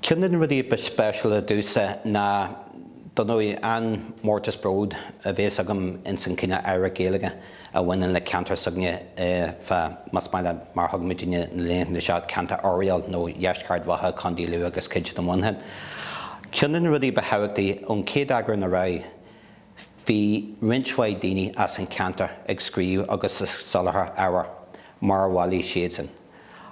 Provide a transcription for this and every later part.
Ceann de na rudaí ba speisialta domhsa ná dar ndóigh an mórtas bród a bhéas agam ins an cineál oidhreacht Gaeilge a bhaineann le ceantar s'againne fá más maith leat mar thugann muidinne na laethanta seo ceantar Oiriall nó dheisceart Ard Mhacha, Co. Lú agus cuid de Mhuineachán. Ceann de na rudaí ba thábhachtaí ón chéad eagrán ar aghaidh Bhí roinnt mhaith daoine as an cheantar ag scríobh agus ag soláthar ábhair mar a bhailigh siadsan.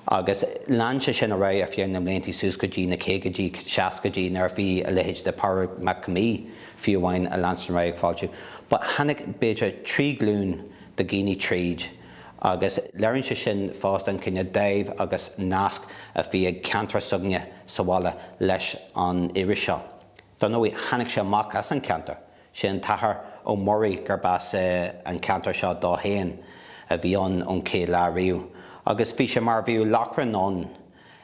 Agus lean sé sin ar aghaidh ar feadh na mblianta suas go dtí na caogaidí, seascaidí nuair a bhí a leithéid de Pádraig Mac Con Midhe fiú amháin ag leanstan ar aghaidh ag fáiltiú. But tháinig b'fhéidir trí ghlúin de dhaoine tríd agus léiríonn sé sin fosta an cineál dáimh agus nasc a bhí ag ceantar s'againne sa bhaile leis an iris seo. Dar ndóigh tháinig sé amach as an cheantar. Sé an tAthair Ó Muirí gurb as an cheantar seo dó féin a bhí ann ón chéad lá riamh agus bhí sé mar a bheadh lóchrann ann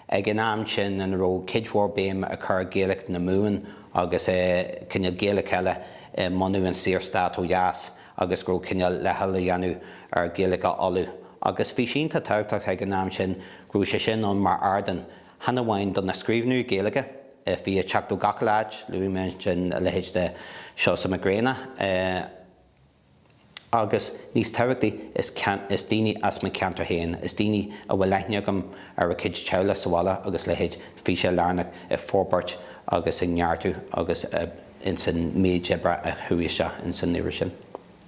ag an am sin ina raibh cuid mhór béim á chur ar Ghaeilge na Mumhan agus cineál Gaeilge eile i mbunú an Saorstát ó dheas agus go raibh cineál leithcheal á dhéanamh ar Ghaeilge Uladh agus bhí sé iontach tábhachtach ag an am sin go raibh sé sin ann mar ardán chan amháin do na scríbhneoirí Gaeilge a bhí ag teacht ó gach uile áit, luaigh mé ansin a leithéid de Seosamh Mac Grianna agus, níos tábhachtaí, is daoine as mo cheantar féin, is daoine a bhfuil aithne agam ar a gcuid teaghlaigh sa bhaile agus leithéid, bhí sé lárnach i forbairt agus i neartú agus insan méid oibre a chuaigh isteach insan iris sin.